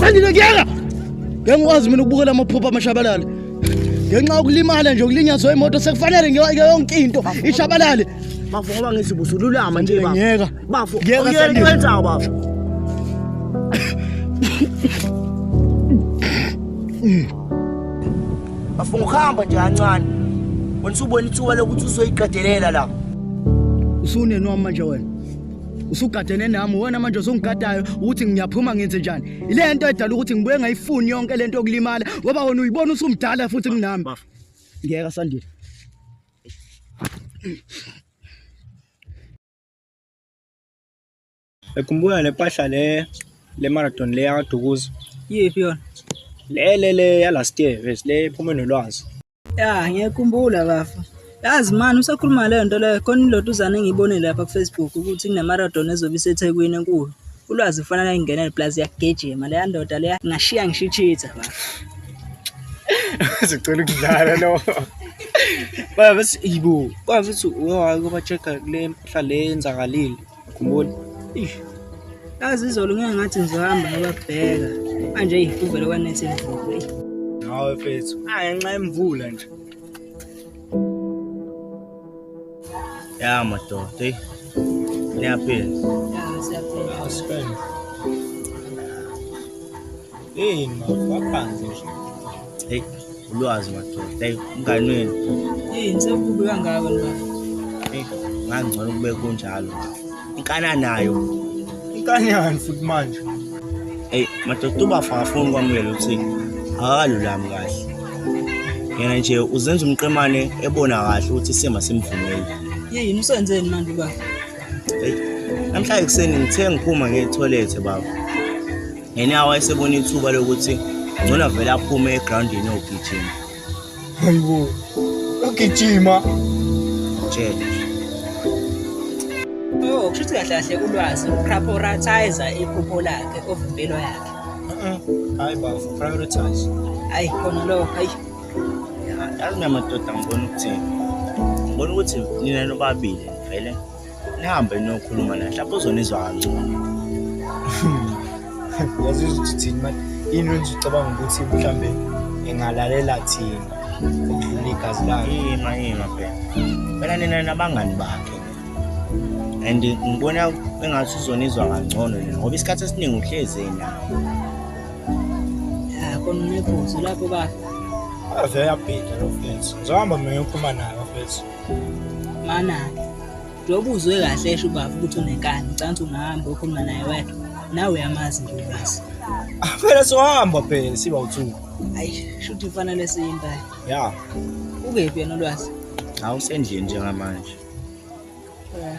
sandile kuyeka ngeke ngikwazi mina ukubukela amaphupho amashabalala ngenxa yokulimala nje ukulinyazwa imoto sekufanele ngeke yonke into ishabalale bafo ngoba ngithi busululama nje bafo ngiyeka bafo ngiyeka ngiyeka bafo afunga ukuhamba nje kancane wena usubona ithuba lokuthi uzoyiqedelela la usunenwa manje wena usugadene nami wena manje usungigadayo ukuthi ngiyaphuma ngenze njani ile nto edala ukuthi ngibuye ngayifuni yonke le nto yokulimala ngoba wena uyibona usumdala futhi kunami ngiyeka sandile Ngikhumbula le mpahla le le marathon le yakaDukuza. Yiphi yona? Le le le ya last year ves le iphume nolwazi. Ya ngiyakhumbula bafo. Yazi mani usakhuluma leyo nto leyo khona ilotuzana engiyibone lapha kuFacebook ukuthi kunemarathon ezobe iseThekwini enkulu. Ulwazi kufanele ayingenele plus iyagijima leya ndoda leya ngashiya ngisho ichitha bafo. Sicela ukudlala lo. Baba bese ibo. Kwazi ukuthi uyohamba uyoba check kule mpahla le yenzakalile. Khumbula. Ish. Yazi izolo ngeke ngathi ngizohamba ngababheka. Manje ihuvele kwanethe imvula. Hawu mfethu. Hayi nxa imvula nje. Ya madoda, hey. Niyaphila. Ya siyaphila. Asiphila. Hey, mafaphansi nje. Hey, ulwazi madoda. Hey, umngani wenu. Hey, ngisebubi kangaka nina. Hey, ngangcono kube kunjalo. Inkana nayo. Inkani yani futhi manje. Hey, madoda ubafa ngafuni kwamukela ukuthi akalulami kahle. Yena nje uzenza umqemane ebona kahle ukuthi sima simvumeli. Hey, umsenzeni manje baba? Hey, namhlanje kuseni ngithe ngiphuma ngetoilet baba. ngenyawo wayesebona ithuba lokuthi ngcono avele aphume egrawundini ogijima hayibo ugijima tshela Oh, kushuthi kahle kahle ulwazi uprioritize iphupho lakhe of impilo yakhe. Hayi ba, prioritize. Hayi khona lo, hayi. Yazi namadoda ngibona ukuthi ngibona ukuthi nina nobabili vele nihambe niyokhuluma naye mhlawumbe uzonizwa kangcono yazi ukuthi thini manje yini wenza ucabanga ukuthi mhlawumbe engalalela thina ukudlula igazi lakhe yima yima phela phela nina nabangani bakhe and ngibona engathi uzonizwa kangcono nina ngoba isikhathi esiningi uhlezi yena khona unephuzu lapho bafo ave yabhida lo fethu ngizohamba mina ngiyophuma nayo fethu Manake, njengoba uzwe kahle esho ubaba ukuthi unenkani, ucansi ungahamba ukhuluma naye wedwa. Nawe uyamazi nje ubazi. Ah, phela sohamba phela siba uthuku. Hayi, shuthi kufanele siye impela. Ya, Ukephi yena ulwazi? hawu sendlini njengamanje. Eh,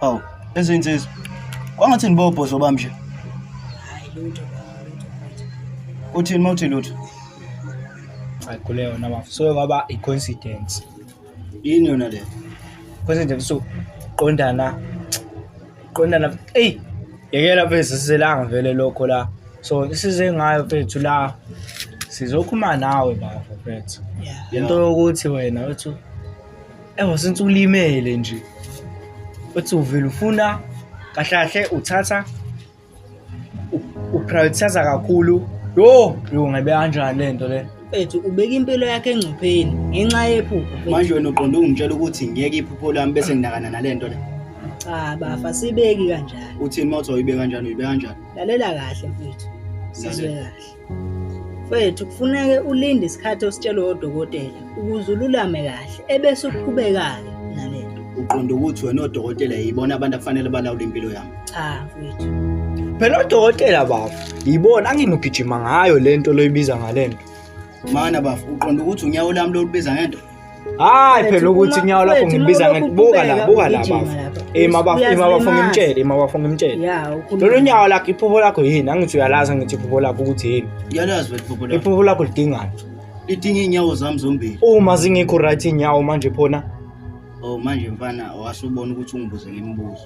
Hawu, ezinsizwa. Kwangathi nibobhozo bami nje. Hayi lutho. Uthini mawuthi lutho? Hayi kule yona bafo. So ngaba i coincidence. Yini yona le? Coincidence so qondana qonda lapha eyi yekela mfethu sizelanga vele lokho la so isize ngayo mfethu la sizokhuluma nawe bafo mfethu le nto yokuthi wena uthi ewa since ulimele nje uthi uvele ufuna kahle kahle uthatha uprioritize kakhulu yo yo ngabe kanjani le nto le mfethu ubeka impilo yakhe engcupheni ngenxa yephupho manje wena uqonde ungitshela ukuthi ngiyeke iphupho lami bese nginakana nale nto le cha bafa sibeki kanjalo uthini uma uthi awuyibeka kanjani uyibeka kanjani lalela kahle mfethu sizwe kahle Mfwethu kufuneke ulinde isikhathi ositshelwe odokotela ukuze ululame kahle ebese uqhubekayo nalento. Uqonda ukuthi wena odokotela yibona abantu afanele balawule impilo yami. Cha mfwethu. Phela odokotela bafo yibona anginugijima ngayo lento loyibiza ngalento. Mana bafo uqonda ukuthi unyawo lami lolubiza ngento. hayi phela ukuthi kunyawo lakho ngibiza ngathi buka la buka la bafo ima bafo ima bafo ngimtshele ima bafo ngimtshele lolu nyawo lakho iphupho lakho yini angithi uyalazi angithi iphupho lakho ukuthi yini uyalazi iphupho lakho iphupho lakho lidingani lidinga inyawo zami zombili uma zingekho right inyawo manje phona oh manje mfana wasubona ukuthi ungibuze ngemibuzo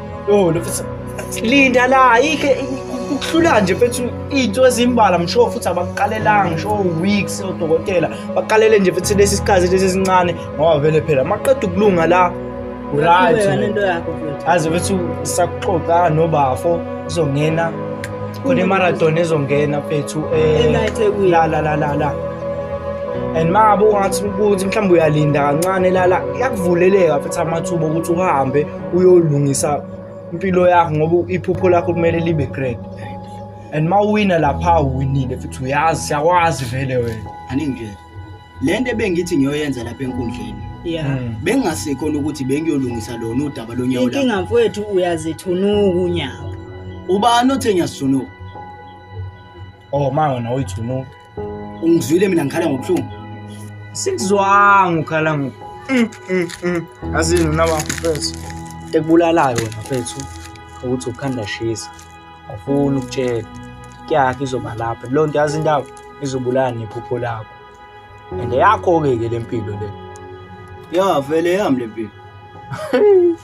Yo, mfethu linda la yike ukuhlula nje mfethu into ezimbala msho futhi abakuqalelanga ngisho weeks odokotela baqalele nje futhi lesi sikhathi lesi sincane ngoba vele phela maqeda ukulunga la right aze futhi sakuxoxa nobafo izongena khona imarathon ezongena mfethu eh la la la la la and mabe ungathi ukuthi mhlawumbe uyalinda kancane lala kuyakuvuleleka futhi amathuba ukuthi uhambe uyolungisa impilo yakho ngoba iphupho lakho kumele libe great and uma uwina lapha uwinile futhi uyazi siyakwazi vele wena aningi nje le nto ebengithi ngiyoyenza lapha enkundleni ya hmm. bengingasekhona ukuthi bengiyolungisa lona udaba lonyawo lakho inkinga mfowethu uyazithunuka unyawo ubani othe ngiyasithunuka oh ma wena uyithunuka ungizwile mina ngikhala ngobuhlungu sikuzwanga ukhala ngoku mm, mm, mm. azini unabakho mfethu tekubulalayo wena mfethu ukuthi ukhanda shisa awufuni ukutshela kuyakhe izoba lapha leyo nto yazi indaba izobulala nephupho lakho and yakho-ke ke le mpilo le yavele yami le mpilo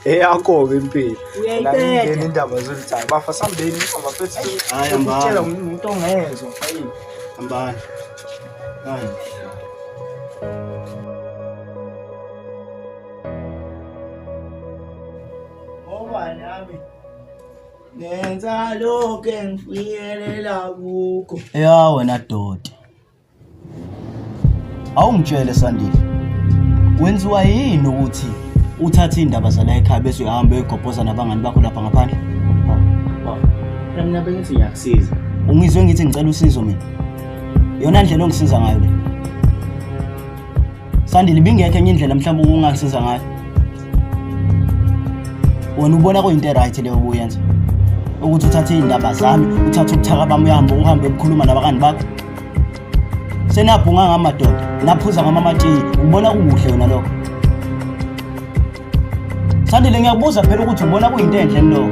eyakho-ke impilo uyayibetha indaba zolithanda bafa sambeni abafethu hayi ambani umuntu ongezwa hayi ambani hayi ngenza lokho engifikelela kukho ya wena doti Awungitshele Sandile. Wenziwa yini ukuthi uthathe indaba zala ekhaya bese uhambe uyogobhoza nabangani bakho lapha ngaphandle? Phela mina bengithi ngiyakusiza. Ungizwe ngithi ngicela usizo mina. Yona ndlela ongisiza ngayo le. Sandile ibingekho enye indlela mhlawumbe ukungangisiza ngayo. Wena ubona kuyinto right leyo obuyenza. Ukuthi uthathe izindaba zami, uthathe ubuthaka bami uhambe uhambe ukukhuluma nabakani bakho. Senabhunga ngamadoda, naphuza ngamamatiyi, ubona kuhle wena lokho. Sandile ngiyabuza phela ukuthi ubona kuyinto enhle lokho.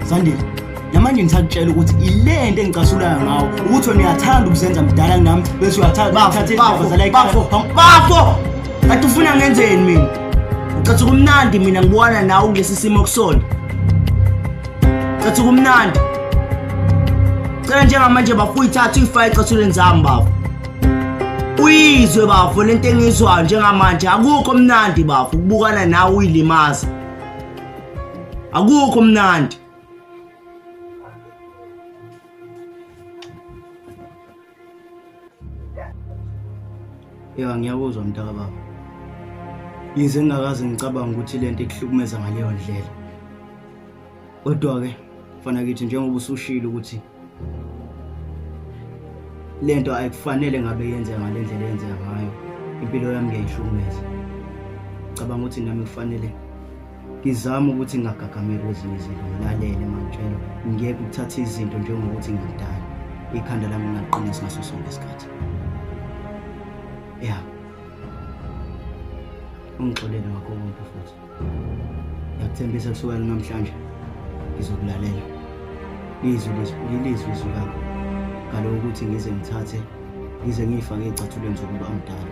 Sandile namanje ngisakutshela ukuthi ilento engicasulayo ngawo ukuthi wena uyathanda ukuzenza mdala nami bese uyathanda ukuthatha izindaba zala bafo bafo kanti ufuna ngenzeni mina ucathi kumnandi mina ngibona nawe kulesi simo kusona ucathi kumnandi cela njengamanje bafuyithatha uyifake ecathuleni zami bafo uyizwe bafo lento engizwayo njengamanje akukho mnandi bafo ukubukana nawe uyilimaza akukho mnandi ya ngiyakuzwa mntaka baba yize ngingakaze ngicabanga ukuthi le nto ikuhlukumeza ngaleyo ndlela kodwa-ke fana kithi njengoba usushile ukuthi le nto ayikufanele ngabe yenzeka ngale ndlela eyenzeka ngayo impilo yami ngiyayihlukumeza cabanga ukuthi nami kufanele ngizame ukuthi ngingagagameli kwezinye izinto ngilalele mangitshelwa ngiyeke ukuthatha izinto njengokuthi ngimdala ikhanda lami ngingaqinisi ngaso sonke isikhathi ya ungixolele ngakho konke futhi Ngiyakuthembisa kusukela namhlanje ngizokulalela. Izwi lizwi izwi lami. Ngalo ukuthi ngize ngithathe ngize ngiyifake ezicathulweni zokuba umdala.